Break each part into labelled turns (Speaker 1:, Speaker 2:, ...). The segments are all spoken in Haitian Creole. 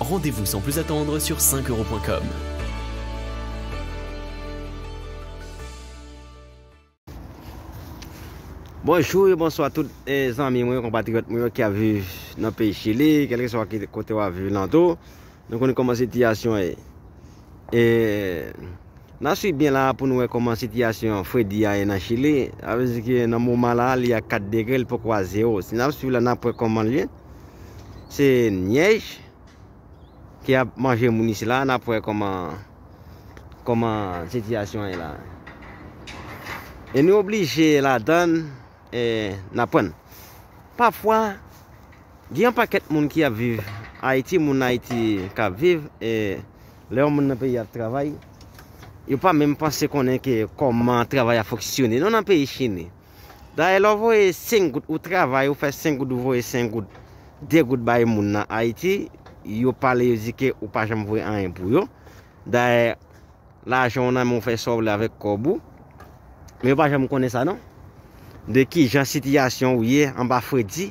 Speaker 1: Rendez-vous sans plus attendre sur 5 euros.com.
Speaker 2: Bonjou e bonswa tout e eh, zanmi mwen, konpatriyot mwen yo ki ap viv nan peyi Chili, kelke swa ki kote wap viv nan tou, nou konnen koman sitiyasyon e. E nan swi byen la pou nou wè koman sitiyasyon fredi a e nan Chili, avè zi ki nan mouman la li a 4 degre, li poko a 0. Si nan swi la nan pwè koman li e. Se nyèj ki ap manje moun isi la, nap wè kòman kòman sitiyasyon an ye la. E nou oblije ladann e n aprann. Pafwa gen yon pakèt moun ki ap viv Ayiti, moun Ayiti k ap viv e lè yon moun nan peyi ap travay, yo pa menm panse konnen ke kòman travay a foksyone. Nou nan peyi Chine. Dayè lè w voye 5 goud ou travay ou fè 5 goud ou voye 5 goud 2 goud bay moun nan Ayiti yo pale yo di ke ou pa janm voye anyen pou yo dayè lajan w nan men w fè sa w vle avèk kòb ou men yo pa janm konnen sa non de kijan sitiyasyon w ye anba fredi.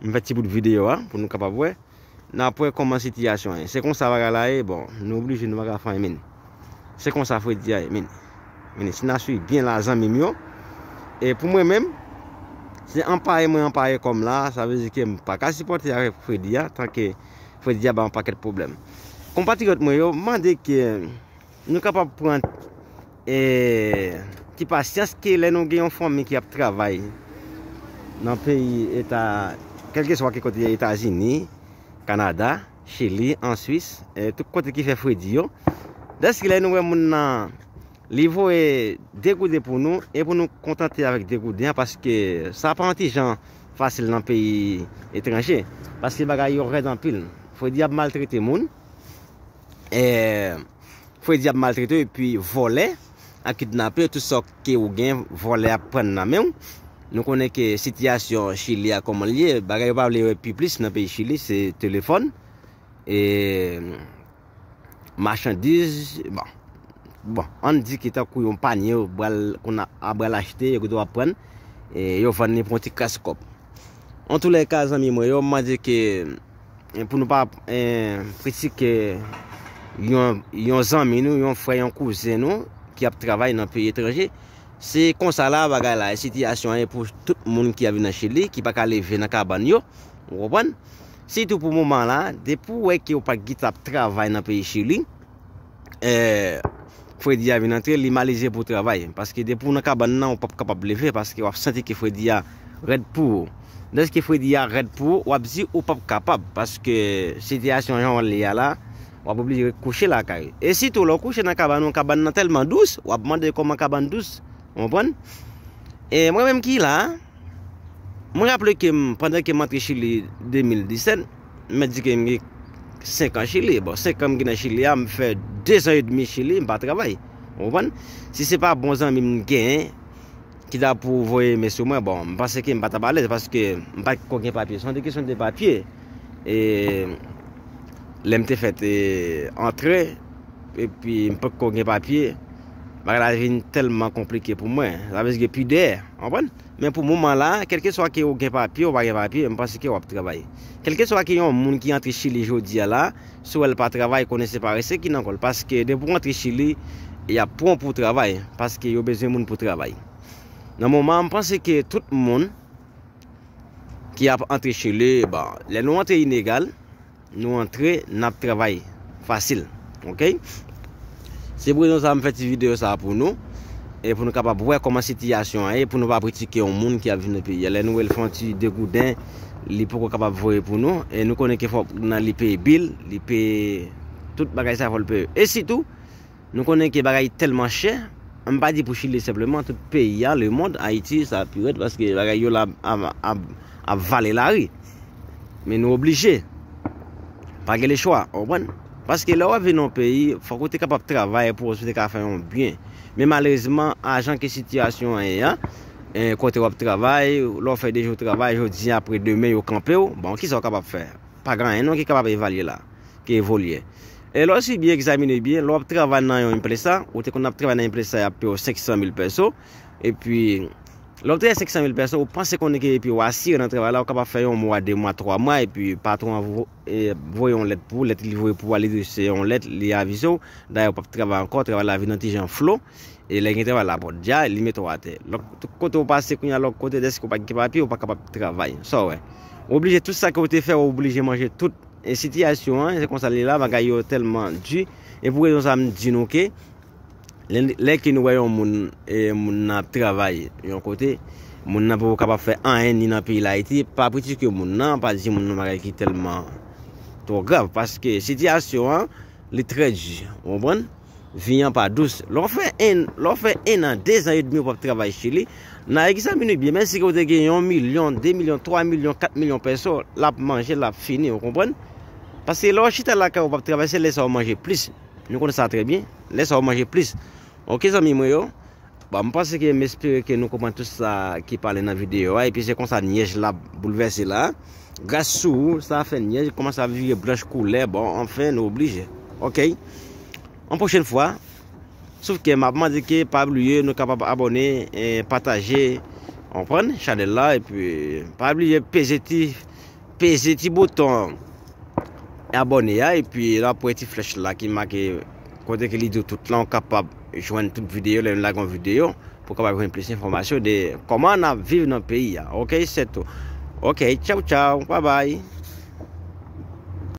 Speaker 2: M fè ti bout videyo a pou nou kapab wè. N ap wè kòman sitiyasyon an ye. Se konsa bagay la ye, bon, nou oblije nou pa ka fè anyen min. Se konsa fredi a ye min. Min, si n a suiv byen la zanmi m yo, e pou mwen menm, se anpaye mwen anpaye kò m la, sa vle di ke m pa ka sipòte avèk fredi a, tanke fredi a ban m anpakèt pwoblèm. Konpatriyòt mwen yo, m mande ke. Nou kapab pran ti pasyans ke lè nou gen yon fanmi ki ap travay nan peyi eta, kèlkeswa ki kote Etazini, Kanada, Chili, an Swis, tout kote ki fè fredi yo. Dèske lè nou wè moun nan, li voye 2 gouden pou nou, e pou nou kontante avèk 2 gouden an, paske sa pa yon ti jan fasil nan peyi etranje, paske bagay yo rèd anpil. Fredi ap maltrete moun. Fredi ap maltrete w epi vòlè ak kidnapè tout sa ke ou gen vòlè ap pran nan men w nou konnen ke sitiyasyon chili a kòman l ye bagay yo pa vle wè pi plis nan peyi chili se telefòn e machandiz bon bon an n di ki tankou yon panye yo pral konn ap pral achte yo gen dwa ap pran e yo vann li pou yon ti kras kòb antouleèka zanmi mwen yo m mande ke pou nou pa kritike yon zanmi nou, yon frè, yon kouzen nou ki ap travay nan peyi etranje. Se konsa la bagay la, sitiyasyon an e pou tout moun ki avi nan Chili, ki pa ka leve nan kaban yo, ou konpon? Sitou pou mouman la, depi ou wè ki ou pa gita ap travay nan peyi Chili, fredi a vin antre li malize pou travay paske depi ou nan kabann nan ou pap kapab leve paske wap santi ke fredi a rèd pou ou deske fredi a rèd pou ou wap di ou pap kapab paske sitiyasyon jan li a la wap oblije ret kouche lakay ou e sitou lè ou kouche nan kabann ou kabann nan tèlman dous wap mande kòman kabann dous ou konprann e mwen menm ki la mwen raple ke m pandan ke m antre chili 2017 m mèt di ke m gen 5 an Chili, bon 5 an m gen nan Chili a, m fè 2 zan e demi Chili m pa travay. Ou konprann? Si se pa bon zanmi m genyen ki ta pou voye men sou mwen, bon m panse ke m pa t ap alèz paske m pa t ko gen papye. Se yon kesyon de papye. E lè m te fèt e antre epi m pa t ko gen papye, bagay la vin tèlman konplike pou mwen. Sa vle di gen pidè. Ou konprann? Men pou moman la, kelkeswa ke ou gen papye ou pa gen papye, m panse ke wap travay. Kelkeswa ke yon moun ki antre Chili jodi a la, si w wè l pa travay, konnen se parese ki nan kò l. Paske depi ou antre Chili, yap pran w pou w travay. Paske yo bezwen moun pou travay. Nan moman an, m panse ke tout moun ki ap antre Chili, bon, lè nou antre inegal, Nou antre nap travay fasil ok. Se pou rezon sa m fè ti video sa pou nou e pou nou kapab wè kòman sitiyasyon an ye pou nou pa pritike yon moun ki ap viv nan peyi a lè nou wè l fè yon ti degouden li poko kapab voye pou nou e nou konnen ke fòk nan li peye bil li peye tout bagay sa fòl peye e sitou Nou konnen ke bagay tèlman chè, m pa di pou chili senpleman, tout peyi a, le mond, Ayiti sa pi rèd paske bagay yo la ap vale lari. Men nou oblije. Pa gen le chwa, ou konprann? Paske lè wap vin nan yon peyi, fòk ou te kapab travay pou ou te ka fè yon byen. Men malerezman, a jan ke sitiyasyon an ye a, kote wap travay, lè w fè 2 jou travay, jodi a apre demen yo kanpe w, bon kisa w kapab fè? Pa gen anyen non ki kapab evalye la, ki evolye. E lè w si byen egzamine byen, lè w ap travay nan yon impresa, ou te konn ap travay nan impresa y ap peye w 500 mil pèso, epi lè w ap travay 500 mil pèso, ou panse konnen ke epi w asire nan travay la, ou kapab fè yon mwa, de mwa, twa mwa, epi patwon an voye yon lèt pou ou, lèt li voye pou ou a, li di se yon lèt, li avize w, dayè ou p ap travay ankò, travay la vin yon ti jan flo. E lè gen travay la pot dja li met ou atè. Lòk tout kote ou pase kounya lòk kote deske ou pa gen papye ou pa kapab travay. Sa wè. Ou oblije tout sa ke ou te fè ou oblije manje tout. E sitiyasyon an se konsa li la bagay yo tèlman di. E pou rezon sa m di nou ke lè, lè ke nou wè yon moun e moun nan ap travay yon kote moun nan poko kapab fè anyen ni nan peyi Dayiti pa kritike moun nan pa di moun nan bagay ki tèlman twò grav paske sitiyasyon an li trè di. Ou konprann? vi an pa dous. Lè w fè 1, lè w fè 1 an, 2 zan edmi ou p ap travay Chili, n a egzamine ou byen, menm si ke ou te gen yon milyon, 2 milyon, 3 milyon, 4 milyon pèso, l ap manje, l ap fini, ou konprann? Paske lè w chita lakay ou p ap travay, se lè sa ou manje plis. Nou konn sa trè byen. Lè sa ou manje plis. Ok zanmi mwen yo. Bon m panse ke m espere ke nou konprann tout sa ki pale nan video a epi se konsa nyèj la boulvèse la gras sou ou sa fè nyèj kòmanse ap vire blanch koulè bon anfen nou oblije ok yon pwochen fwa sof ke m ap mande ke pa bliye nou kapab abòne e pataje ou konprann chanèl la epi pa bliye peze ti Peze ti bouton abone a epi wap wè ti flèch la ki make kote ke li di w tout lan ou kapab jwenn tout videyo lè nou lage yon videyo pou kapab jwenn plis enfòmasyon de kòman nap viv nan peyi a ok sè tou ok tchaw tchaw babay.